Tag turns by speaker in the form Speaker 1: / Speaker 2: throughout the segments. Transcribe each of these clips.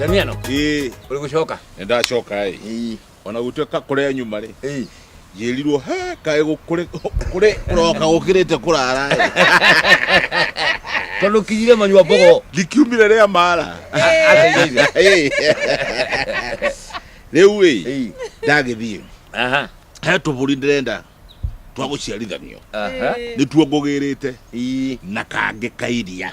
Speaker 1: Damiano, ĩĩ uri gucoka? nĩ ndacoka ĩ Ii. ona gũtuĩka kũrĩa nyuma rĩ Ii. njĩrirwo he kaĩ gũkũrĩ kũrĩ kũroka gũkĩrĩte kũrara ĩ Tondu kinyire manyua mbogo. ndikiumire rĩa mara Ategeire. Ĩ. rĩu ĩ Ii. ndagĩthiĩ Aha. he tũbũri ndĩrenda twa gũciarithanio Aha. nĩtuo ngũgĩrĩte Ii. na kangĩ kairia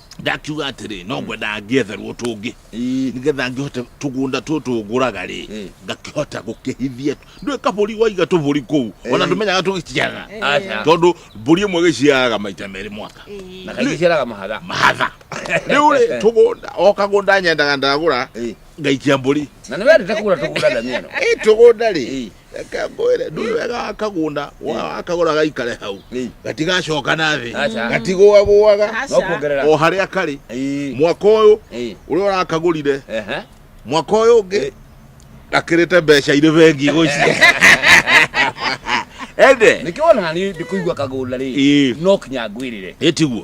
Speaker 1: ndakiuga atĩrĩ no ngwenda ngĩetherwo tũngĩ Ii. nĩgetha ngĩhote tũgũnda tũtũ ngũraga rĩ Mm. ngakĩhota gũkĩhithia ndũĩ kabũri waiga tũbũri kũu ona Eh. ndũmenyaga tũgĩciaraga Aca. tondũ mbũri ĩmwe ĩgĩciaraga maita merĩ mwaka na kaingĩ ciaraga mahatha mahatha rĩu rĩ tũgũnda o kagũnda nyendaga ndagũra Ii. ngaikia mbũri na nĩ wendete kũgũra tũgũra ndania ĩno ĩ tũgũnda rĩ Ii. reke ngwĩre ndui wega wa kagunda woya wakagũra gaikare hau Ĩĩ. gatigacoka na thĩ Aca. gatigũagũaga no Aca. kuongerera o harĩa karĩ Ĩĩ. mwaka ũyũ Ĩĩ. ũrĩa ũrakagũrire Ehe. mwaka ũyũ ũngĩ gakĩrĩte mbeca irĩ bengi gũciĩ ende nĩkĩo ona nani ndĩkũigua kagũnda rĩ Ĩĩ. no kinya ngwĩrĩre ĩtiguo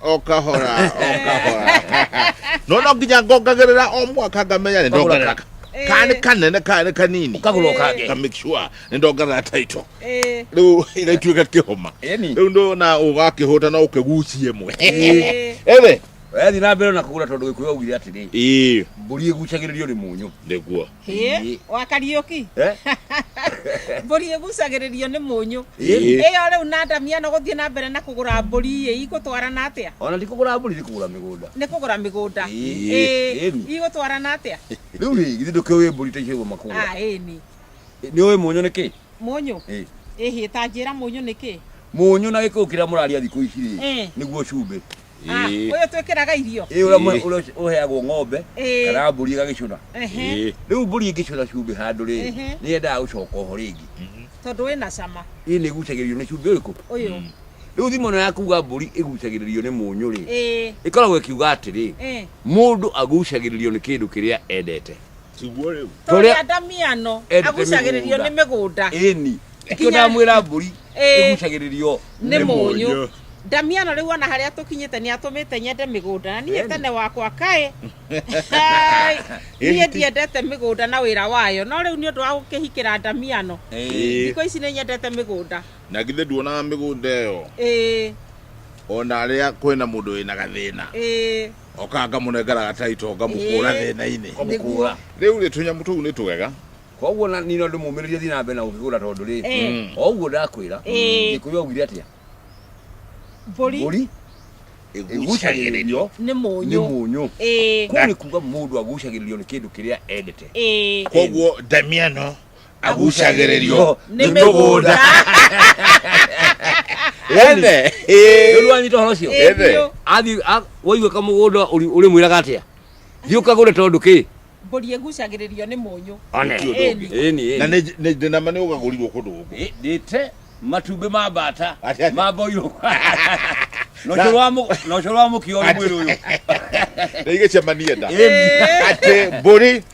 Speaker 1: okahora okahora nono nginya ngongagirira o mwaka ngamenya ni ndongerera ka- Eh. ka nĩ kanene ka nĩ kanini Ũkagũra ũkangĩ. Nga make sure nĩ ndongerera taito Eh, rĩu ĩgaituĩka kĩhoma Ĩni. rĩu ndona ũgakĩhũta no ũkĩgucie mwe eh, ĩrĩ wethi na mbere na kũgũra tondũ gĩkũyũ augire atĩrĩ ĩĩ mbũri ĩgucagĩrĩrio nĩ mũnyũ nĩguo Ĩĩ. wa kariũki Eh? mbũri ĩgucagĩrĩrio nĩ mũnyũ Ĩĩ. ĩyo rĩu na ndamia no gũthiĩ na mbere na kũgũra mbũri ĩ igũtwarana atĩa ona ndikũgũra mbũri ndikũgũra mĩgũnda nĩ kũgũra mĩgũnda Ĩĩ. Ĩĩ. Ĩni. igũtwarana atĩa rĩu rĩ githĩ ndũkĩũĩ mbũri ta icio ũguo makũgũra Ah, ĩni nĩ ũĩ mũnyũ nĩ kĩ mũnyũ Ĩĩ. ĩhĩ ta njĩra mũnyũ nĩ kĩ mũnyũ na gĩkũyũ kĩrĩa mũraria thikũ ici rĩ Eh. nĩguo cumbĩ Ah, Ĩĩ. ũyũ twĩkĩraga irio ĩ ũrĩa mwe- Ĩĩ. ũrĩa ũheagwo ng'ombe Ĩĩ. kana mbũri ĩgagĩcũna Ehe. Ĩĩ. rĩu mbũri ĩngĩcũna cumbĩ handũ rĩrĩ Ehe. nĩ yendaga gũcoka oho rĩngĩ Mhm. tondũ wĩna cama ĩ nĩ ĩgucagĩrĩrio nĩ cumbĩ ũrĩkũ ũyũ Mm. rĩu thimo ĩno ya kuga mbũri ĩgucagĩrĩrio nĩ mũnyũ rĩ Ĩĩ, ĩkoragwo ĩkiuga atĩrĩ ĩĩ. mũndũ agucagĩrĩrio nĩ kĩndũ kĩrĩa endete tiguo rĩu Tũrĩa- tũrĩa ndamiano Endete agucagĩrĩrio nĩ mĩgũnda ĩni Nginya- kĩo ndamwĩra mbũri Ĩĩ. ĩgucagĩrĩrio nĩ mũnyũ ndamiano rĩu ona harĩa tũkinyĩte nĩ atũmĩte nyende mĩgũnda na niĩ Ĩni. tene wakwa kaĩ Hai, niĩ Ĩti. ndiendete mĩgũnda na wĩra wayo no rĩu nĩ ũndũ wa gũkĩhikĩra ndamiano Ĩĩ. thikũ ici nĩ nyendete mĩgũnda na githĩ nduonaga mĩgũnda ĩyo ĩĩ ona arĩa kwĩna mũndũ wĩna gathĩna ĩĩ oka ngamũnengera gataito ngamũkũra Ĩĩ. thĩna-inĩ Nĩguo. rĩu rĩ tũnyamũ tũu nĩ tũgega koguo na- nĩ no ndĩmũmĩrĩrie thiĩ na mbere na gũkĩgũra tondũ rĩ Eh. o ũguo ndakwĩra Ĩĩ. gĩkũyũ augire atĩa Mbũri mbũri ĩgucagĩrĩrio nĩ nĩ mũnyũ. mũnyũ Ĩĩ. kũu nĩ kuga mũndũ agucagĩrĩrio nĩ kĩndũ kĩrĩa endete Ĩĩ. koguo ndamiano agucagĩrĩrio nĩ mĩgũnda ene nĩrwanyita horo cio Ĩĩ, Ĩthĩ. biũ. athiĩ a- waigua kamũgũnda ũri- ũrĩmwĩraga atĩa thiĩ ũkagũre tondũ kĩ mbũri ĩgucagĩrĩrio nĩ mũnyũ one Ti ũndũ ũngĩ. Ĩni, na ĩni. nĩ ndĩ nama nĩ ũgagũrirwo kũndũ gũkũ Ĩ, ndĩte matumbĩ ma mbata Ati, ati. ma mboirũ Na- nocoro wa mũkio ũrĩ mwĩrĩ ũyũ na igĩcemanie nda Ĩni. atĩ mbũri